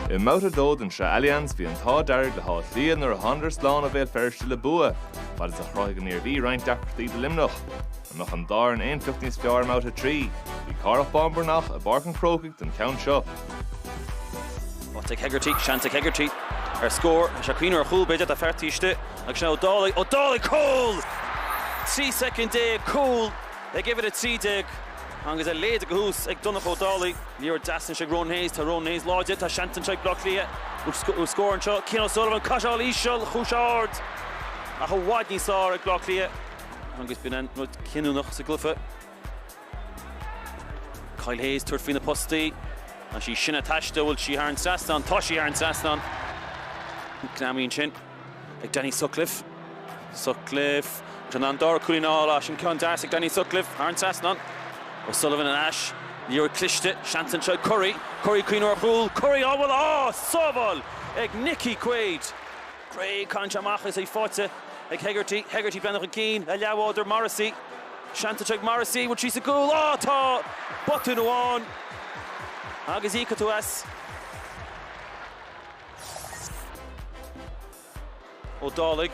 I mbabhta dó den Shraith Allianz bhí an t-ádh dearg le hÁth Cliath nuair a thánadar slán ó Bhéal Feirste le bua, fad is a chruthaigh an Iarmhí roinnt deacrachtaí do Luimneach. An mbeadh an dá ar an aonfheacht níos fearr i mbabhta a trí? Bhí Cárthach Bán Breathnach i bPáirc an Chrócaigh don cheann seo. Bhuaigh Hegarty seans ag Hegarty ar scór is ea ag cuimhneamh ar chúl b'fhéidir tá fear taobh istigh agus sin Ó Dálaigh, Ó Dálaigh! Cúl! 13 soicind cúl ag uimhir 13. Agus a leithéid de thús ag Donncha Ó Dálaigh, liathróid dheas anseo ag Ronan Hayes, tá Ronan Hayes láidir, tá seans anseo ag Baile Átha Cliath ar scór anseo, Cian O'Sullivan, caithfidh sé a dhul íseal, chuaigh sé ard ach i bhfad níos fearr ag Baile Átha Cliath. Agus b'in an rud cinniúnach sa gcluife. Kyle Hayes tabhairt faoi na postaí, tá sí sin ag taisteal, bhfuil sí thar an trasnán, tá sí thar an trasnán. Greamaíonn sin. ag Danny Sutcliffe. Sutcliffe, agus in ann an dara cúilín a fháil, á sin ceann deas ag Danny Sutcliffe thar an trasnán. O'Sullivan ar ais, liathróid cliste, seans anseo ag Currie. Currie, cuimhneamh ar chúl. Currie, á bhualadh, á sábháil ag Nicky Quaid. Gray, caitheann sé amach agus í faighte ag Hegarty. Hegarty, breathnú chun cinn, a leathbhádóir Morrissey. Seans anseo ag Morrissey, an bhfuil sí sa gcúl, á tá botún amháin agus íocfaidh tú as. Ó Dálaigh,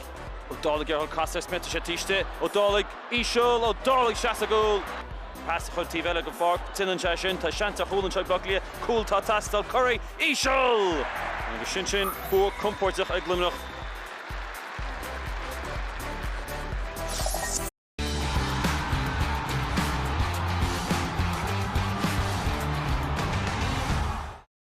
Ó Dálaigh ag iarraidh casadh ar Smyth, tá sé taobh istigh, Ó Dálaigh íseal, Ó Dálaigh sea sa gcúl. Pas a chur taobh eile den pháirc, déanann sé sin, tá seans ar chúl anseo ag Áth Cliath, cúl atá ag teastáil, Currie íseal! Agus sin sin, bua compóirteach ag Luimneach.